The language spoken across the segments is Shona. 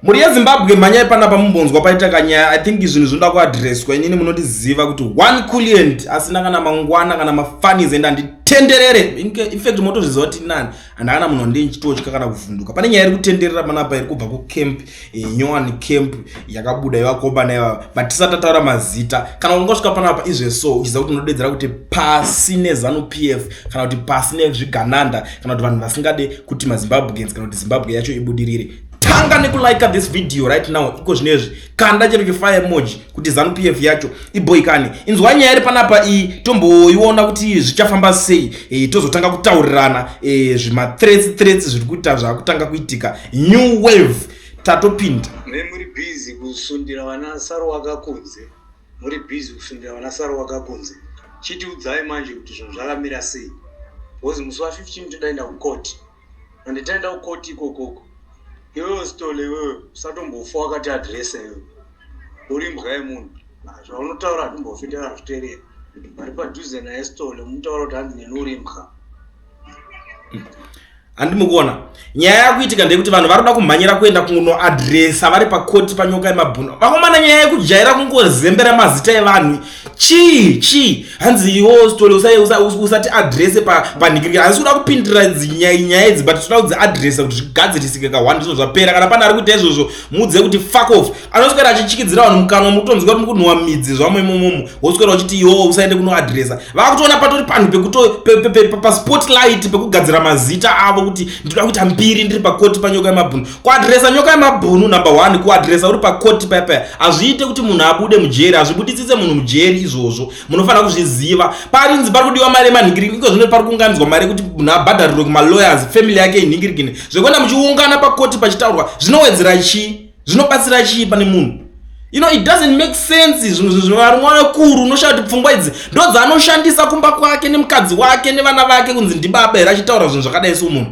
Mhuri yeZimbabwe mhanyai panapa mumbonzwa paita kanyaya I think zvinhu zvinoda kuadresswa inini munondiziva kuti one kulient asina kana mangwana kana mafanis ende handitenderere infact motozviziva kuti nani and akana munhu wandei ndichitotya kana kuvhunduka pane nyaya iri kutenderera panapa iri kubva kucamp eh, nyowani camp yakabuda ivakomba naiva but tisati ataura mazita kana ungosvika panapa izve so uchiziva kuti unodedzera kuti pasi nezanu p f kana kuti pasi nezvigananda kana kuti vanhu vasingade kuti mazimbabweans kana kuti zimbabwe yacho ibudirire tanga nekulike this video right now iko zvino izvi kanda chero chifire emoji kuti zanu p f yacho iboikane inzwa nyaya iri panapa iyi tomboiona kuti zvichafamba sei e, tozotanga kutaurirana e, zvimathreats threats zviri kuita zvakutanga kuitika new wave tatopinda nemuri busy kusundira vana saro wakakunze muri busy kusundira vana saro wakakunze chitiudzai manje kuti zvinhu zvakamira sei because musi wa 15 todaenda kukoti and taenda kukoti ikoko uko iwewe stole iwewe usatombofa wakati adresa iwewe uri mbwa yemunhu zvaunotaura hatimbofi ndazviterera vari padhuze naye stole mutaura kuti hanzi neni uri mbwa handi mukuona nyaya yakuitika ndeyekuti vanhu vari kuda kumhanyira kuenda kunoadresa vari pakoti panyoka yemabhuno vakomana nyaya yekujaira kungozembera mazita evanhu chii chii hanzi iwo stole usati adrese panhikirikira hanzi kuda kupindira nyaya idzi but tinoda kudziadresa kuti zvigadzirisike ka one zvinhu zvapera kana pane ari kuita izvozvo muudze kuti fuck off anoswera achichikidzira vanhu mukanwa mukutonzwa kuti mukunhuwa midzi zvamo imomomo woswera uchiti iwo usaende kunoadresa vakutoona patori panhu pekuto paspotlight pekugadzira mazita avo kuti ndinoda kuita mbiri ndiri pakoti panyoka yemabhunu kuadhiresa nyoka yemabhunu number one kuadhiresa uri pakoti pepe hazviite kuti munhu abude mujeri hazvibudisise munhu mujeri izvozvo munofanira kuzviziva parinzi pari kudiwa mari yemanhingirigini iko zvino pari kuunganidzwa mari yekuti munhu abhadharirwe kumalawyers family yake inhingirigini zvekuenda muchiungana pakoti pachitaurwa zvinowedzera chii zvinobatsira chii pane munhu you know it doesn't make sense zvinhu zvinhu zvivari mwana kuru unoshaya kuti pfungwa idzi ndo dzaanoshandisa kumba kwake nemukadzi wake nevana vake kunzi ndibaba here achitaura zvinhu zvakadai so munhu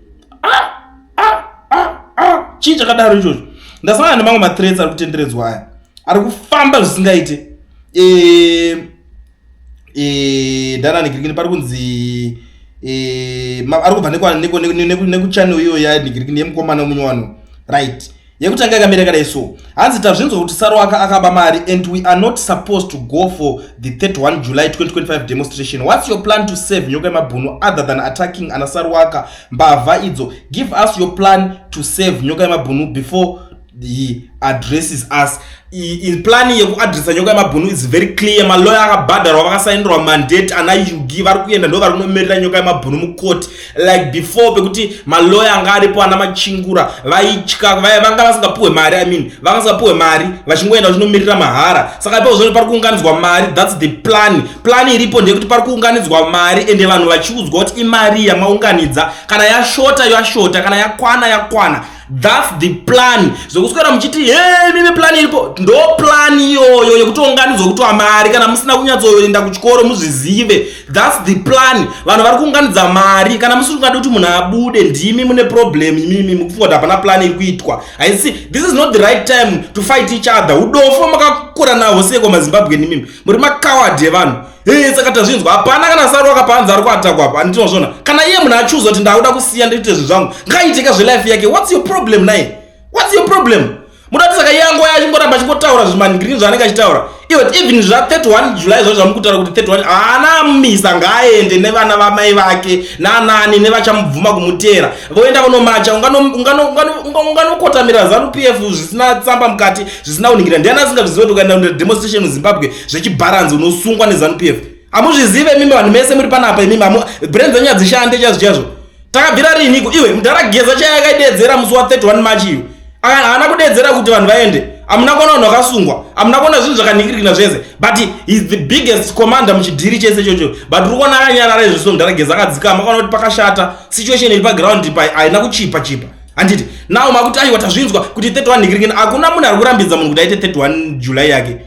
chii chakadaro ichocho ndasangana nemamwe mathreats ari kutenderedzwa aya ari kufamba zvisingaite eh, eh, ndananigirikini pari kunzi eh, ari kubva nekuchannel iyo yanigirikini yemukomana wemunyowano right yekutanga yakamira yakadai so hanzi tazvinzwa kuti saruwaka akaba mari and we are not supposed to go for the 31 july 2025 demonstration whats your plan to save nyoka yemabhunu other than attacking ana saruwaka mbavha idzo give us your plan to save nyoka yemabhunu before he addresses us plan yekuadresa nyoka yemabhunu is very clear maloya akabhadharwa vakasainirwa mandate ana yugi vari kuenda ndo vari kunomirira nyoka yemabhunu mucourt like before pekuti maloya anga aripo ana machingura vaitya vanga vasingapuhwe mari i mean vanga vasingapuhwe mari vachingoenda vachinomirira mahara saka ipo zvino pari kuunganidzwa mari thats the plan plan iripo ndeyekuti pari kuunganidzwa mari ende vanhu vachiudzwa kuti imari yamaunganidza kana yashota yashota kana yakwana yakwana That's the plan. Zvokuswera muchiti hey mimi plan iripo. Ndo plan iyoyo yekuti unganidzwa kutwa mari kana musina kunyatsoenda kuchikoro muzvizive. That's the plan. Vanhu vari kuunganidza mari kana musiri kungada kuti munhu abude ndimi mune problem imimi mukufunga kuti hapana plan iri kuitwa. I see this is not the right time to fight each other. Udofo makakura nawo seko maZimbabwe imimi. Muri makawadi evanhu. Hey, saka tazvinzwa hapana kana saru akapanza ari kuatakwa apa anditinozvona kana iye munhu achuza kuti ndakuda kusiya ndoite zvinhu zvangu ngaiiteka zvelife yake whats your problem naye whats your problem mudati saka iye angoya achingoramba achingotaura zvimanigrini zvaanenge achitaura iwet even zva 31 july zva zvamukutaura kuti 31 haana misa ngaaende nevana vamai vake nanani nevachamubvuma kumutera voenda kunomacha unganokotamira zanu p f zvisina tsamba mukati zvisina kuningira ndiani asingazviziva kuti ukaenda kudemonstration muzimbabwe zvechibharanzi unosungwa nezanupf hamuzvizive imimi vanhu mese muri panapa imimi brain dzenyu hadzishande chazvo chazvo takabvira riiniko iwe mudhara geza chaya akaidedzera musi wa 31 march iyo haana kudedzera kuti vanhu vaende hamuna kuona vanhu vakasungwa hamuna kuona zvinhu zvakaningirikina zvese but is the biggest commander muchidhiri chese chocho but uri kuona akanyarara izvozvo mudhara geza akadzikama akaona kuti pakashata situation iri paground haina kuchipa chipa handiti now makuti aiwa tazvinzwa kuti 31 ndikiringeni hakuna munhu ari kurambidza munhu kuti aite 31 july yake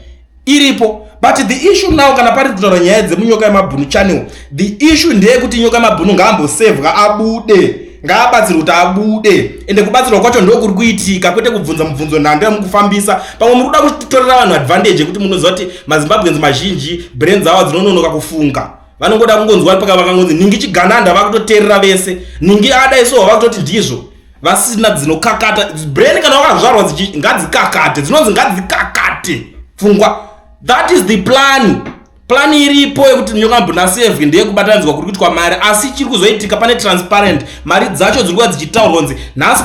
iripo but the issue now kana pari kutaura nyaya dzemunyoka yemabhunu channel the issue ndeyekuti nyoka yemabhunu ngaambosevwa abude ngaabatsirwe kuti abude ende kubatsirwa kwacho ndokuri kuitika kwete kubvunza mubvunzo nhando yamukufambisa pamwe muri kuda kutorera vanhu advantage yekuti munoziva kuti mazimbabweans mazhinji brains awa dzinononoka kufunga vanongoda kungonzwa paka vakangonzi ningi chigananda vakutoterera vese ningi adai so vakutoti ndizvo vasina dzinokakata brain kana wakazvarwa ngadzikakate dzinonzi ngadzikakate pfungwa that is the plan plan iripo yekuti nyoka mbunasevhi ndeyekubatanidzwa kuri kuitwa mari asi chiri kuzoitika pane transparent mari dzacho dziri kuva dzichitaurwa nzi nhasi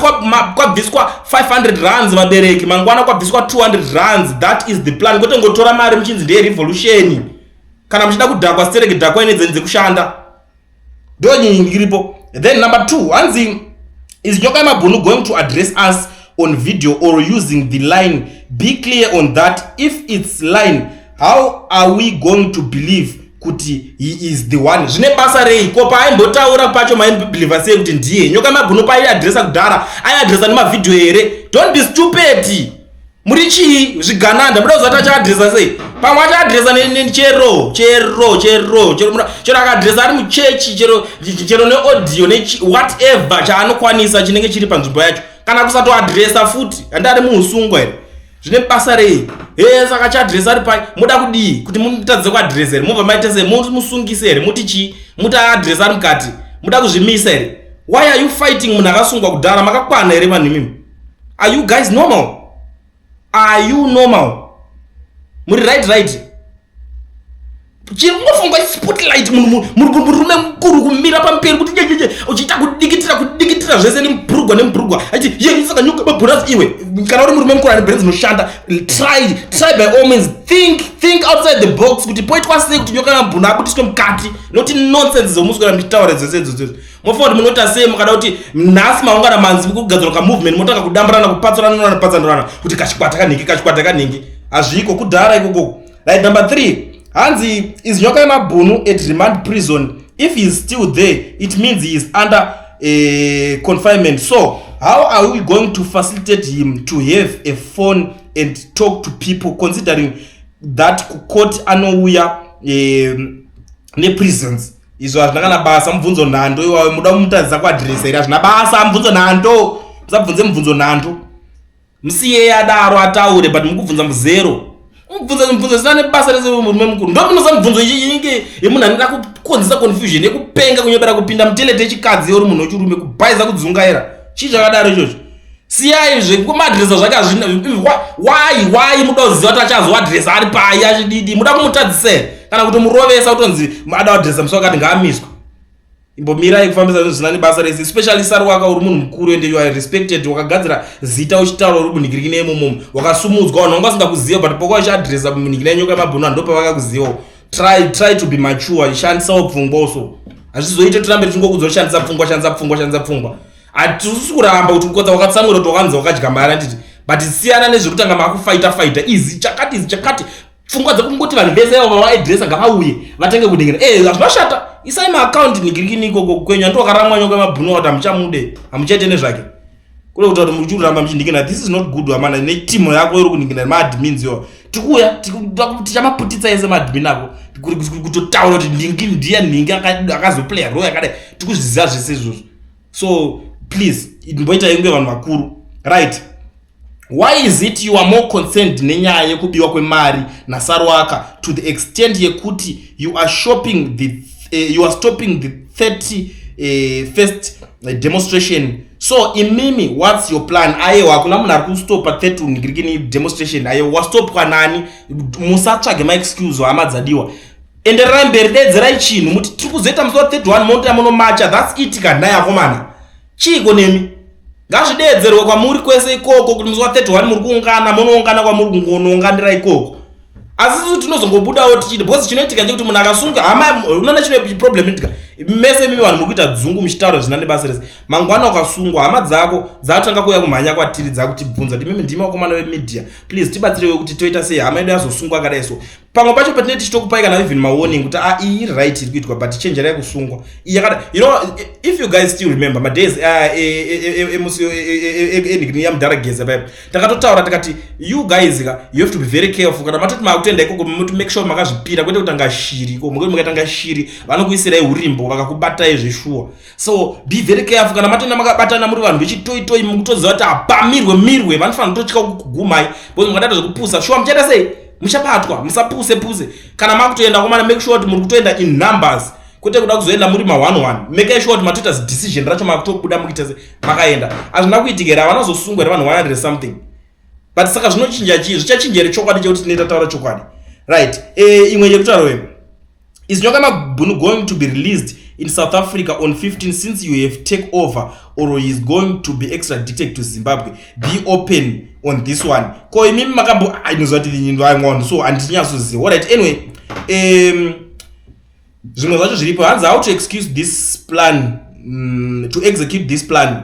kwabviswa 500 runs vabereki mangwana kwabviswa 200 runs that is the plan kwete ngotora mari muchinzi ndeyerevolution kana muchida kudhakwa stereki dhakwa ine dzeni dzekushanda ndo nyinyi ndiripo then number two hanzi is nyoka yemabhunu going to address us on video or using the line be clear on that if its line how are we going to believe kuti he is the one zvine basa rei ko paimbotaura pacho maimbibhilivha sei kuti ndiye nyoka yemabhunu paiadresa kudhara aiadresa nemavhidhiyo here don't be stupeti muri chii zvigananda muda kuzati achaadresa sei pamwe achaadresa chero chero chero chero akaadresa ari muchechi chero chero neaudio newhatever chaanokwanisa chinenge chiri panzvimbo yacho kana kusatoadresa futi handi ari muusungwa here zvine basa rei he saka chaadresa ari pai moda kudii kuti mutadze kuadresa here mobva maite sei musungise here muti chii muti aadresa ari mukati muda kuzvimisa here why are you fighting munhu akasungwa kudhara makakwana here vanhu imimi are you guys normal are you normal muri right right chiringofunga spotlight munhu murume mukuru kumira pamperi kuti jejeje uchiita kudikitira kudikitira zvese nembrugwa nembrugwa achiti ye saka nyuka mabhuras iwe kana uri murume mukuru ane brain dzinoshanda try try by all means think think outside the box kuti poitwa sei kuti nyoka yamabhuna abudiswe mukati noti nonsense dzomuswera muchitaura dzese idzodzo mofunga kuti munoita sei mukada kuti nhasi maungana manzi kugadzirwa kamovement motanga kudamburana kupatsanana nokupatsanurana kuti kachikwata kanhingi kachikwata kanhingi hazviiko kudhara ikoko right number 3 hanzi is nyoka yemabhunu at remand prison if he is still there it means he is under uh, confinement so how are we going to facilitate him to have a phone and talk to people considering that kucourt anouya um, neprisons izvo hazvina kana basa mubvunzo nhando iwayo muda kumutadzisa kuadhiresa iri hazvina basa mubvunzo nhando musabvunze mubvunzo nhando musiyei adaro ataure but mukubvunza muzero mubvunza mubvunzo zvisina nebasa rese murume mukuru ndomunosa mubvunzo inenge yemunhu anoda kukonzesa confusion yekupenga kunyobera kupinda mutelete yechikadzi ori munhu wechirume kubhaiza kudzungaira chii chakadaro ichocho siyai zvekumadresa zvake hazvina why why muda kuziva kuti achazoadresa ari pai achididi muda kumutadzisei kana kuti murovesa kutonzi ada adresa musi wakati ngaamiswa imbomirai kufambisa zvinhu zvinani basa rese especially sari waka uri munhu mukuru ende yoa respected wakagadzira zita uchitaura uri munhikirikine yemumomo wakasumudzwa vanhu vanga vasingakuziva but pokuva uchiadresa munhikine yenyoka yemabhunu vanhu ndopavakakuzivawo try try to be mature shandisawo pfungwa uso hazvizoite tirambe tichingokudzwa shandisa pfungwa shandisa pfungwa shandisa pfungwa hatisi kuramba kuti kukotsa wakatsamwira kuti wakanzi wakadya mari anditi but siyana nezvekutanga makufaita faita izi chakati izi chakati pfungwa dzekungoti vanhu vese avo vavaidresa ngavauye vatange kudengera e eh, hazvinashata isai maakaunti nigirikini ikoko kwenyu handi wakaramwa nyonga mabhunu wati hamuchamude hamuchaite nezvake kule kutaura kuti muchiruramba muchindikina this is not good amana netimu yako iri kundikina nemaadmins yo tikuuya tichamaputitsa ese maadmin ako kutotaura kuti ndingi ndiya nhingi akazoplaya roy akadai tikuzviziva zvese izvozvo so please mboita inge vanhu vakuru right why is it you are more concerned nenyaya yekubiwa kwemari nasarwaka to the extent yekuti you are shopping the uh, you are stopping the 30 uh, eh, first eh, demonstration so imimi whats your plan ayewo hakuna munhu ari kustopa 30 nigirikini demonstration ayewo wastopwa nani musatsvage maexcuse hama dzadiwa endererai mberi deedzerai chinhu muti tiri kuzoita musi wa 31 monta munomacha thats it kanhai akomana chiiko nemi ngazvideedzerwe kwamuri kwese ikoko kuti musi wa 31 muri kuungana munoungana kwamuri kungonounganira ikoko asi susu tinozongobudawo tichiti because chinoitika chekuti munhu akasunga hama unoona chine problem itika mese mimi vanhu muri kuita dzungu muchitaura zvina nebasa rese mangwana ukasungwa hama dzako dzatanga kuuya kumhanya kwatiri dzakutibvunza kuti mimi ndimi vakomana vemedia please tibatsirewe kuti toita sei hama yedu yazosungwa akadai so pamwe pacho patinee tichitokupai kana even mawarning kuti a ah, iyi iri right iri kuitwa but chenjerai kusungwa iyakada you know if you guys still remember madays emusi enigni yamudhara geza paipo takatotaura tikati you guys ka you have to be very careful kana matoti makutenda ikoko moti make sure makazvipira kwete kutanga shiri iko mukuti mukatanga shiri vanokuisirai urimbo vakakubatai zveshuwa so be very careful kana matenda makabatana muri vanhu vechitoitoi mukutoziva kuti hapamirwe mirwe vanofanira kutotya kugumai because mukadata zvekupusa shuwa muchaita sei muchabatwa musapuse puse kana makutoenda komana make sure kuti muri kutoenda in numbers kwete kuda kuzoenda muri ma one one make sure kuti matoita zidecision racho makutobuda mukuita se makaenda hazvina kuitikera vanozosungwa here vanhu wanadire something but saka zvinochinja chii zvichachinja here chokwadi chekuti tinoita taura chokwadi right e, imwe yekutaura wema Izinyoka Mabhunu going to be released in South Africa on 15 since you have take over or he is going to be extradited to Zimbabwe. Be open on this one. Ko imi makambo ainoziva kuti nyindu ayi mwana so andinyasoziva. All right. Anyway, um zvimwe zvacho zviripo hanzi how to excuse this plan mm, to execute this plan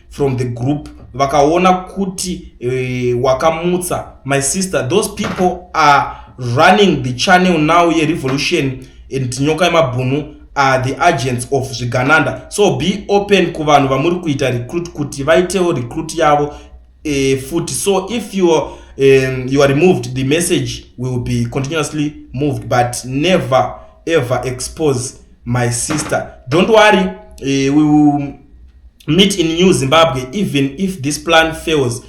from the group vakaona kuti uh, wakamutsa my sister those people are running the channel now yerevolution and nyoka yemabhunu are the agents of zvigananda so be open kuvanhu vamuri kuita recruit kuti vaitewo recruit yavo uh, futi so if you are, um, you are removed the message will be continuously moved but never ever expose my sister don't worry uh, we will meet in new zimbabwe even if this plan fails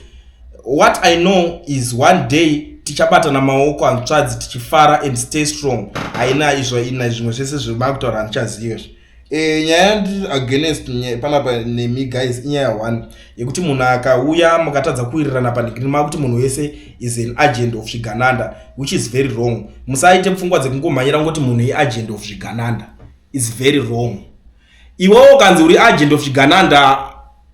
what i know is one day tichabatana maoko hanzvadzi tichifara and stay strong haina izvo ina zvimwe zvese zvemavitaura handichaziva izvi e, nyaya against panapa nemi guys inyaya one yekuti munhu akauya mukatadza kuwirirana panhikiriri mava kuti munhu wese is an agent of zvigananda which is very wrong musaite pfungwa dzekungomhanyira ngoti munhu iagent of zvigananda is very wrong iwewo ukanzi uri agent of zvigananda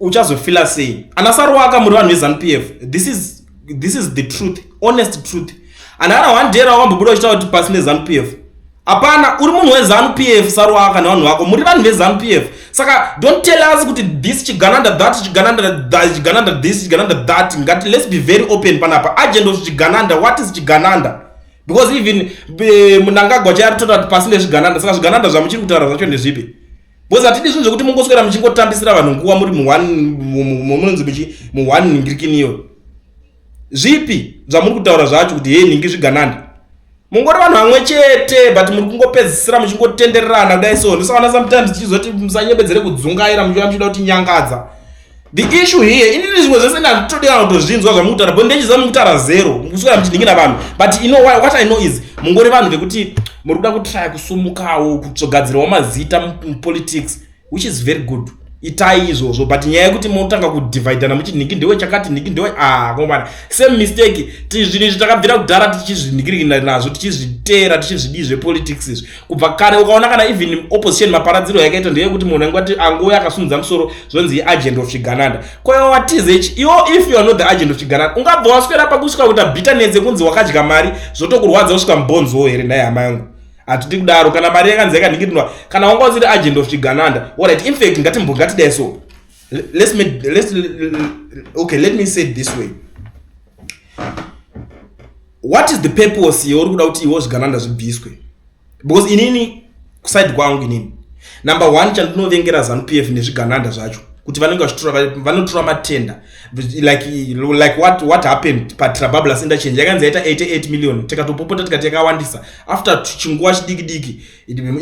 uchazofila sei ana saruwaka muri vanhu vezanu p f this is, this is the truth honest truth and ana one day rawakambobuda uchitaura kuti pasi nezanu p f hapana uri munhu wezanu p f saruaka nevanhu vako muri vanhu vezanu p f saka don't tell us kuti this chigananda that chigananda this chigananda that ngati let's be very open panapa agent of chigananda what is chigananda because even eh, munangagwa chaiari totaura kuti pasi nezvigananda saka zvigananda zvamuchiri kutaura zvacho ndezvipi because hatidi zvinhu zvekuti mungoswera muchingotambisira vanhu nguva muri munonzi muchi muone ningirikiniyo Zvipi zvamuri kutaura zvacho kuti hei nhingi zvigananda? Mungori vanhu vamwe chete but muri kungopedzisira muchingotendererana kudai so ndisaona sometimes tichizoti musanyebedzere kudzungaira muchiva muchida kuti nyangadza the issue here inini zvimwe zvese ndanditodira kutozvinzwa zvamukutara bo ndechiziva mukutara zero kusvira muchindingina vanhu but you know what i know is mungori vanhu vekuti muri kuda kutraya kusumukawo kugadzirawo mazita mupolitics which is very good itai izvozvo but nyaya yekuti motanga kudivhaidhana muchiti nhiki ndewe chakati nhiki ndewe ah komana same mistake zvinhu izvi takabvira kudhara tichizvinikirikina nazvo tichizviteera tichizvidii zvepolitics izvi kubva kare ukaona kana even opposition maparadziro yakaita ndeyekuti munhu ainge ati angouya akasunudza musoro zvonzi iagent of chigananda koiwa watizh iwo if you are not the agent of chigananda ungabva waswera pakusvika kuita bitterness yekunzi wakadya mari zvotokurwadza kusvika mubonziwo here nhai hama yangu hatidi kudaro kana mari yakanzi yakanhingirinwa kana wanga usiri agent of chigananda orit infact ngatimbongatidai so let's me, let's, okay let me say this way what is the purpose yeuri kuda kuti iwo zvigananda zvibviswe because inini kuside kwangu inini number one chandinovengera zanupf nezvigananda zvacho kuti vanenge vachitora vanotora matenda like like what what happened patrabablas interchange yakanzi yaita 88 million tikatopopota tikati yakawandisa after chinguva chidiki diki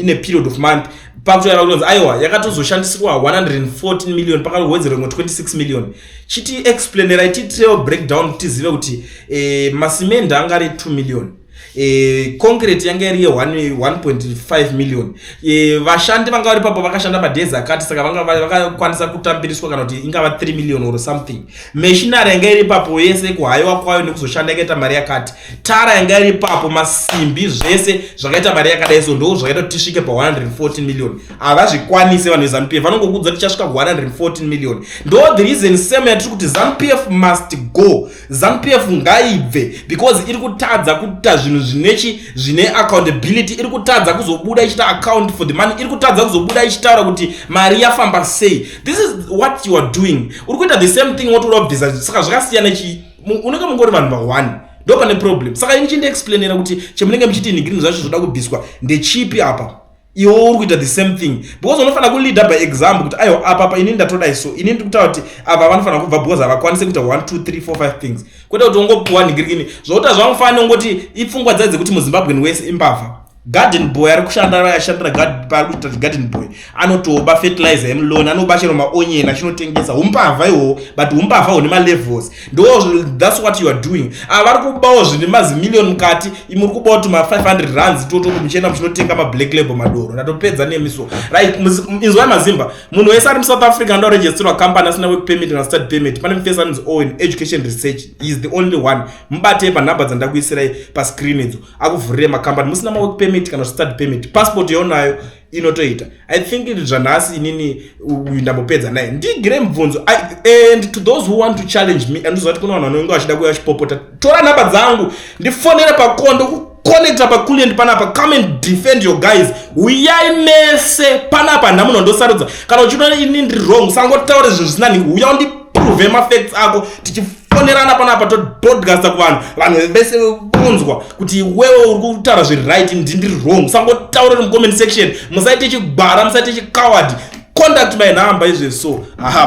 in a period of month pakutoyava kutonzi aiwa yakatozoshandisirwa 114 million pakawedzera imwe 26 million chiti explainerai titrail breakdown tizive kuti eh, masimende angari 2 million E, concrete yanga iri ye 1.5 million e, vashandi vanga vari papo vakashanda madhezi akati saka vanga vakakwanisa kutambiriswa kana kuti ingava 3 million or something mashinari yanga iri papo yese kuhayiwa kwayo nekuzoshanda yakaita mari yakati tara yanga iri papo masimbi zvese zvakaita mari yakadai so ndo zvakaita kuti tisvike pa 114 million havazvikwanise vanhu vezanup f vanongokudza tichasvika ku 114 million ndo the reason same yatiri kuti zanup f must go zanupf ngaibve because iri kutadza kuita zvinhu zvinechi zvine accountability iri kutadza kuzobuda ichiita account for the money iri kutadza kuzobuda ichitaura kuti mari yafamba sei this is what you are doing uri kuita the same thing woti uda kubvisa saka zvakasiyana chi unenge mungori vanhu vaone ndo pane problem saka ini chindiexplainera kuti chemunenge muchiti nigrini zvacho zvoda kubviswa ndechipi apa iwe uri kuita the same thing because unofanira kuleader by example kuti aiwa apa apa ini ndatodai so ini ndiri kutaura kuti ava vanofanira kubva because havakwanise kuita 1 2 3 4 5 things kwete kuti ungopuwa nhingirikini zvokuta zvamufanira ungoti ipfungwa dzai dzekuti muzimbabwen wese imbavha garden boy ari kushanda ashandira paari kuita garden boy anotoba fertilizer emlon anoba chero maonyeni achinotengesa umbavha ihoho but umbavha hune malevels ndo thats what you are doing ava ah, vari kubawo zvine mazimillion mukati imuri kubawo tuma 500 runs toto kuti muchienda muchinotenga mablack label madoro ndatopedza nemi so right inzwai mazimba munhu wese ari musouth africa ndo registerwa company asina work permit kana start permit pane mufesi anonzi owen education research is the only one mubatei panhamba dzandakuisirai pascreen idzo akuvhurire macompany musina mawork permit kana start permit passport yaunayo inotoita i think zvanhasi inini uyu ndambopedza naye ndigire mubvunzo and to those who want to challenge me andizoa ti kune vanhu vanonge vachida kuya vachipopota tora nhamba dzangu ndifonere pakondo kuconnecta paculient panapa come and defend your guys uyai mese panapa nhamuno ndosarudza kana uchinoona ini ndiri wrong sangotaure zvinhu zvisina nhingi uya undiprove mafacts ako tichi ponerana panapa topodcasta kuvanhu vanhu vese vonzwa kuti iwewe uri kutaura zviri right ndindiri wrong sangotaura nemucomment section musaite chigwara musaite chicoward contact my number izve so aha